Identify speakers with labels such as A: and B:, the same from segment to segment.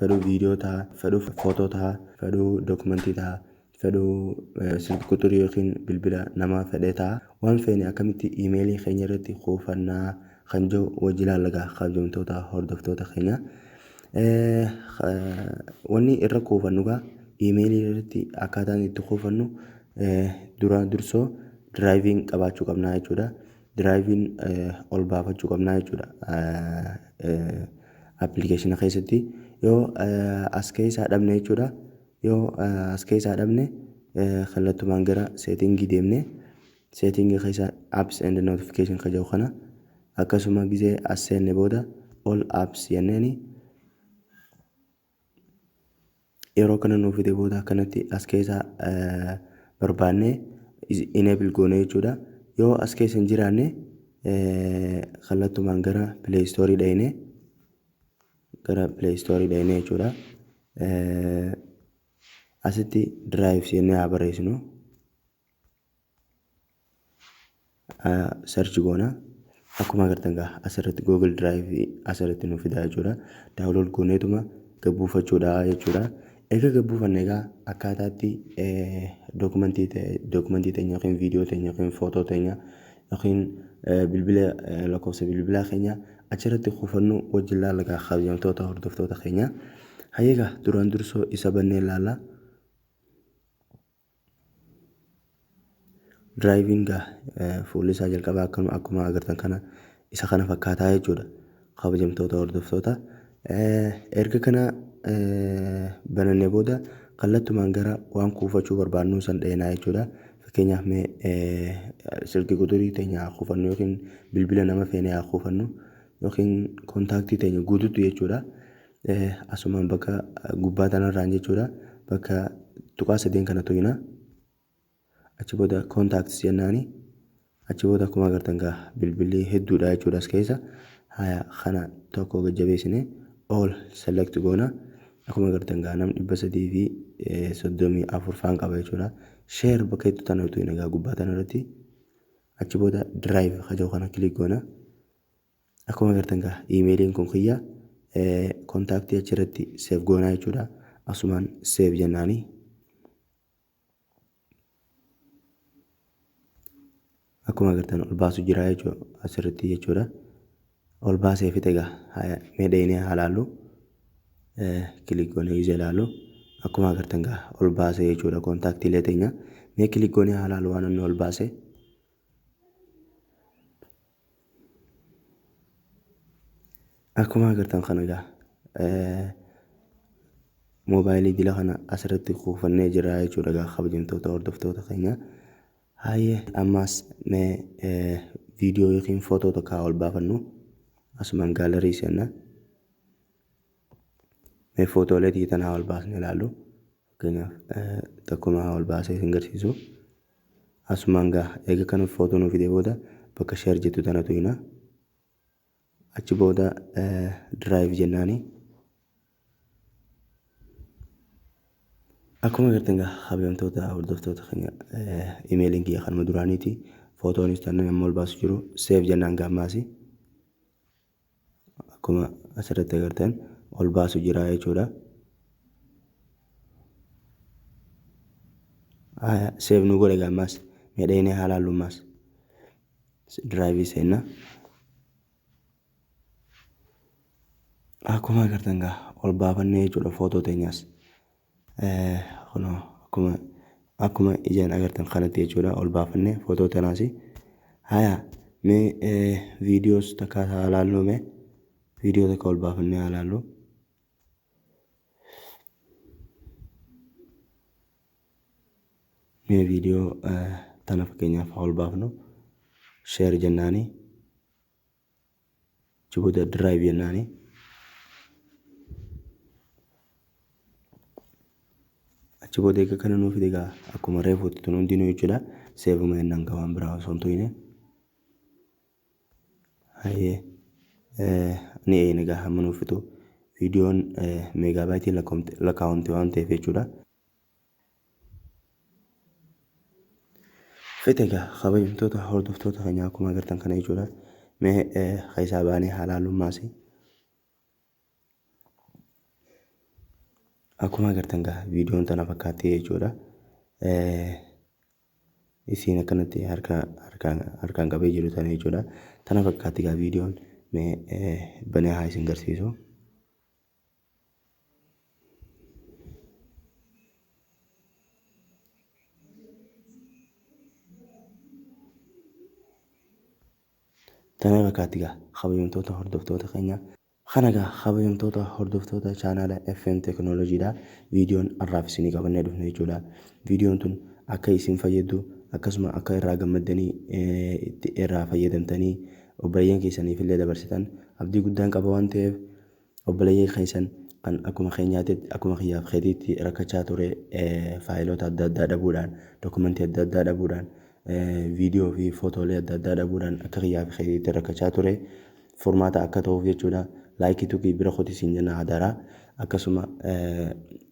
A: fedhuu video taha fedhuu photo taha fedhuu document taha fedhuu silki quxurii yookiin bilbila namaa fedhee taha waan feene akkamitti email keenya irratti kuufanna kan jedhu wajji ilaalla gaa kabjamtoota hordoftoota keenya wanni irra kuufannu gaa email irratti akkaataan itti kuufannu dura dursoo driving qabaachuu qabnaa jechuudha Diraayiviin ol baafachuu qabnaa jechuudha appilikeeshina keessatti. Yoo as keessaa dhabne jechuudha. Yoo as keessaa dhabne kallattumaan gara seetingii deemne seetingii keessa apps and notification ka jedhu kana akkasuma gisee as seenne booda all apps jenneeni yeroo kana nuuf fide booda akkanatti as keessaa barbaannee enable goone jechuudha. Yoo as keessa hin jiraanne kallattumaan gara play store dhayne gara play store dhayne jechuudha. Asitti drive jennee haa barreessinu. search goona akkuma agartan gaa asirratti google drive asirratti nu fidaa jechuudha daawulood gooneetuma gabbuufachuudha jechuudha egaa gabbuufanne egaa akkaataatti dookumentii dookumentii teenya yookiin viidiyoo teenya yookiin footoo teenya yookiin bilbila lakkoofsa bilbilaa keenya achirratti kuufannu wajjin laalla gaa kabajamtoota hordoftoota keenya hayyeegaa duraan dursoo isa bannee laalla Driving gaa fuulli isaa jalqabaa akkuma akkuma agartan kana isa kana fakkaataa jechuudha kabajamtoota hordoftoota erga kana banannee booda kallattumaan gara waan kuufachuu barbaadnu san dheenaa jechuudha fakkeenyaaf mee silki quxurii teenya haa kuufannu yookiin bilbila nama feene haa kuufannu yookiin kontaaktii teenya guututti jechuudha Asumaan bakka gubbaa tanarraan jechuudha bakka tuqaa sadeen kana tuyna achi booda contacts jennaani achi booda akkuma agartan gaa bilbilli hedduudha jechuudha as keessa haya kana tokko gajjabeessine all select goona akkuma agartan gaa nam dhibba sadii fi soddomii afur faan qaba jechuudha share bakka jettu tana tuyna gaa gubbaa tanarratti achi booda drive hajoo kana click goona Akkuma agartan gaa iimeeliin kun kiyya kontaaktii achirratti seef goonaa jechuudha. Asumaan seef jennaani. Akkuma agartan ol baasu jira jechuudha asirratti jechuudha. Ol baasee fixe gaa mee dheenee haa laallu. Kilik goonee ijaa ilaallu. Akkuma agartan gaa ol baasee jechuudha kontaaktiilee teenya. Mee kilik goonee haa laallu waan inni ol baasee. Akkuma agartan kana egaa moobaayilii jila kana asirratti kuufannee jirra jechuudha egaa kabajamtoota hordoftoota keenya. Haayee ammaas mee viidiyoo yookiin footoo tokko haa ol baafannu asumaan gaalarii seenna. Mee footoolee tiyya tana haa ol baasne ilaallu. Fakkeenyaaf tokkuma haa ol baasee isin garsiisu. Asumaan gaha. Eega kan photo nuu fidee booda bakka share jettu tana tuyna. Achi booda drive jennaani. Akkuma agartan gaa kabajamtoota hordoftoota keenya imeeliin kiyya kanuma duraaniiti. Footoonis tanan amma ol baasu jiru save jennaan gaammaasi. akkuma asirratti agartan ol baasu jira jechuudha. Seef nu godhe gammaas miidhaginee haala hallummaas diraayivii seenna. Akkuma agartan gaa ol baafannee jechuudha footoo teenyaas. Kunoo akkuma akkuma ijaan agartan kanatti jechuudha ol baafannee footoo tanaasi. Haya mee viidiyoos takka haa laalluu mee viidiyoo takka ol baafannee haa laalluu. Mee viidiyoo tana fakkeenyaaf haa ol baafnu sheer jennaanii. Achi booda drive jennaani. Achi booda egaa kana nuuf fide egaa akkuma reefuutti tun hundinuu jechuudha. Seevuma jennaan egaa waan biraa osoo hin tuqine. Hayyee eh, ni eegna egaa hamma nuuf fixu. Viidiyoon meegaabaayitiin lakkaa'amte waan ta'eef jechuudha. Fete egaa kabajamtoota hordoftoota keenyaa akkuma agartan kana jechuudha. Mee ka isaa baanee halaalummaasi. Akkuma agartan gaa viidiyoon tana fakkaatti jechuudha. Isiin akkanatti harkaan qabee jiru tana jechuudha. Tana fakkaatti gaa viidiyoon mee banee haa isin garsiisu. Tana fakkaatti gaa kabajamtoota hordoftoota keenya. Kana gaa kabajamtoota hordoftoota chaanaala FM Teknooloojii dha. Viidiyoon har'aaf isinii qabannee dhufne jechuudha. Viidiyoon tun akka isin fayyaddu akkasuma akka irraa gammaddanii irraa fayyadamtanii obboleeyyan keessaniif illee dabarsitan abdii guddaan qaba waan ta'eef Obboleeyyan keessan kan akkuma keenyaatitti, akkuma kiyyaa fi keetiitti rakkachaa ture faayiloota adda addaa dhabuudhaan, dokumentii adda addaa dhabuudhaan, viidiyoo fi footoolee adda addaa dhabuudhaan akka kiyyaa fi keetiitti rakkachaa ture. Furmaata akka ta'uuf jechuudha. Laayikii tuqii bira kotii siin jenna hadaraa. Akkasuma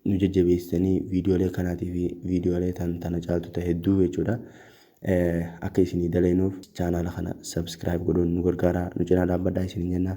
A: nu jajjabeessitanii viidiyoolee kanaatii fi viidiyoolee tan tana caaltu ta'e hedduu jechuudha. Akka isinii daleenuuf chaanaala kana sabskiraayib godhuun nu gargaaraa nu cinaa dhaabbadhaa isiniin jenna.